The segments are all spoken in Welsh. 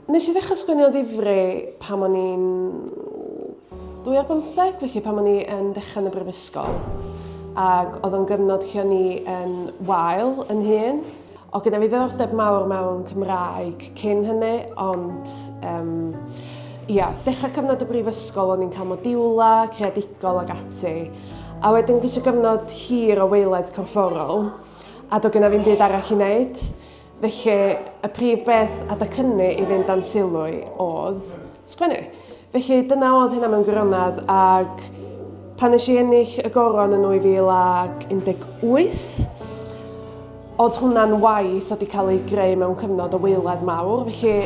Nes i ddechrau sgwennu o ddifri pan o'n i'n 25, felly pan o'n i yn dechrau yn y brifysgol. Ac oedd o'n gyfnod lle o'n i yn wael yn hun. O gyda fi ddiddordeb mawr mewn Cymraeg cyn hynny, ond um, ia, dechrau cyfnod y brifysgol o'n i'n cael modiwla, creadigol ac ati. A wedyn gyda gyfnod hir o weiledd corfforol, a do gyda fi'n byd arall i wneud. Felly, y prif beth a dacynnu i fynd dan sylw i oedd sgwennu. Felly, dyna oedd hynna mewn gwirionedd, ac pan nes i ennill y goron yn 2018, oedd hwnna'n waith oedd wedi cael ei greu mewn cyfnod o weiledd mawr, felly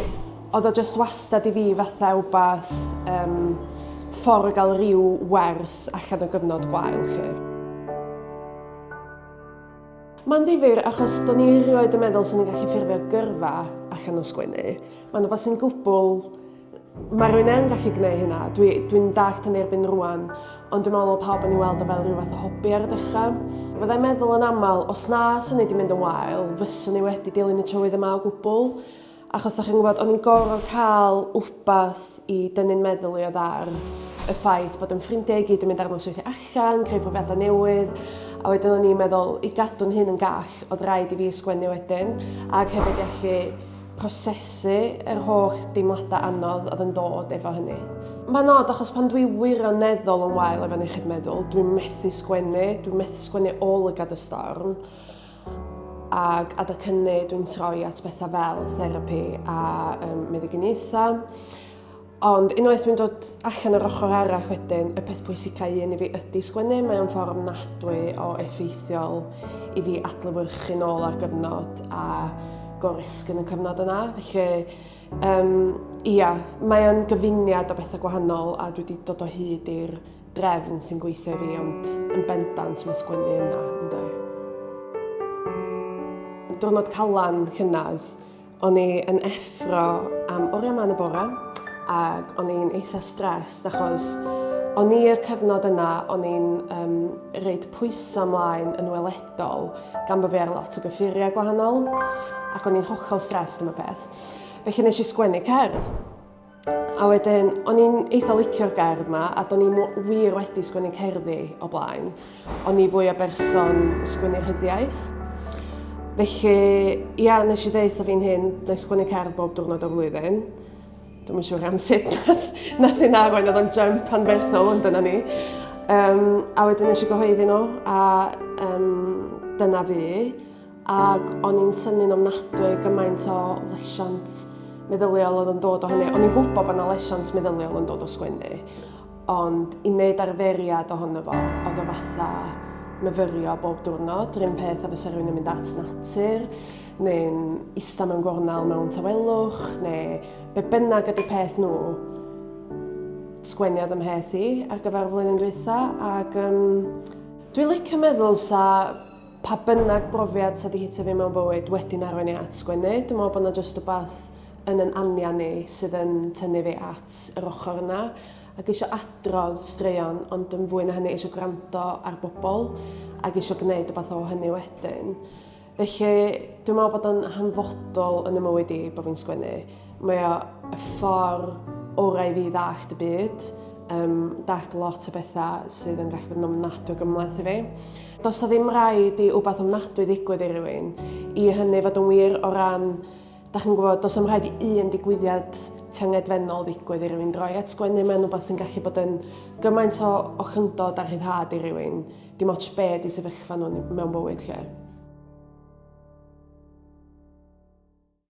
oedd o jyst wastad i fi fatha wbath um, ffordd o gael rhyw wers allan o gyfnod gwael chi. Mae'n ddifyr achos do'n i erioed yn meddwl sy'n ni'n gallu ffurfio gyrfa allan o sgwennu. Mae'n rhywbeth sy'n gwbl... Mae rwy'n yn gallu gwneud hynna. Dwi'n dwi dalt yn erbyn rwan, ond dwi'n meddwl o pawb yn ei weld o fel rhywbeth o hobi ar y dechrau. Fyddai'n meddwl yn aml, os na swn i wedi mynd yn wael, fyswn i wedi dilyn y tywydd yma o gwbl. Achos o'ch chi'n gwybod, o'n i'n gorfod cael wbath i dynnu'n meddwl i oedd ar y ffaith bod yn ffrindiau i gyd yn mynd ar nosweithiau allan, creu profiadau newydd, a wedyn o'n i'n meddwl, i gadw'n hyn yn gall, oedd rhaid i fi ysgwennu wedyn, ac hefyd i allu prosesu yr holl deimladau anodd oedd yn dod efo hynny. Mae'n od achos pan dwi wirioneddol yn wael efo'n iechyd meddwl, dwi'n methu sgwennu, dwi'n methu sgwennu o lygad y storm. Ac adag hynny dwi'n troi at bethau fel therapi a um, meddyginiaethau. Ond unwaith dwi'n dod allan o'r ochr arall wedyn, y peth pwysicau un i fi ydy sgwennu, mae o'n ffordd ofnadwy o effeithiol i fi adlywyrchu nôl ar gyfnod a gorisg yn y cyfnod yna. Felly, um, ia, mae o'n gyfuniad o bethau gwahanol a dwi wedi dod o hyd i'r drefn sy'n gweithio i fi, ond yn bendant mae sgwennu yna, ynddo. Diwrnod calan llynedd, o'n i yn effro am oriau man y bore, ac o'n i'n eitha stressed achos o'n i'r cyfnod yna, o'n i'n um, reid pwysau ymlaen yn weledol gan bod fi ar lot o gyffuriau gwahanol ac o'n i'n hollol stressed am y peth. Felly nes i sgwennu cerdd. A wedyn, o'n i'n eitha licio'r gerdd yma, a do'n i'n wir wedi sgwennu cerddi o blaen. O'n i fwy o berson sgwennu rhyddiaeth. Felly, ia, nes i ddeitha fi'n hyn, dwi'n sgwennu cerdd bob diwrnod o'r flwyddyn. Dwi'n yn siŵr iawn sut nath, nath i'n arwain oedd o'n jump anferthol, ond dyna ni. Um, a wedyn nes i gyhoeddi nhw, a um, dyna fi. Ac o'n i'n synnu'n ofnadwy gymaint o lesiant meddyliol oedd yn dod o hynny. O'n i'n gwybod bod yna lesiant meddyliol yn dod o sgwennu, ond i wneud arferiad ohono fo, oedd o fatha myfyrio bob diwrnod, rhywun peth a fysa rhywun yn mynd at natur, neu'n ista mewn gornel mewn tawelwch, neu be bynnag ydy peth nhw, sgwenniad ymheth i ar gyfer y flwyddyn dwytha, ac um, dwi'n licio meddwl sa pa bynnag brofiad sy 'di hitio fi mewn bywyd wedi'n arwain i at sgwennu. Dwi'n meddwl bod 'na jyst wbath yn yn anian i sydd yn tynnu fi at yr ochr yna ac eisiau adrodd straeon ond yn fwy na hynny eisiau gwrando ar bobl ac eisiau gwneud wbath o hynny wedyn. Felly dwi'n meddwl bod o'n hanfodol yn y mywyd i bod fi'n sgwennu. Mae o y ffor orau i fi ddallt y byd, um, dallt lot o bethau sydd yn gallu bod yn ofnadwy gymlaeth i fi. Does o ddim rhaid i wbeth ofnadwy ddigwydd i rywun, i hynny fod yn wir o ran, da chi'n gwybod, does am rhaid i un digwyddiad tyngedfennol ddigwydd i rywun droi at sgwennu, mae'n wbeth sy'n gallu bod yn gymaint o, o chyndod a rhyddhad i rywun, dim ots be di sefyllfa nhw mewn bywyd lle.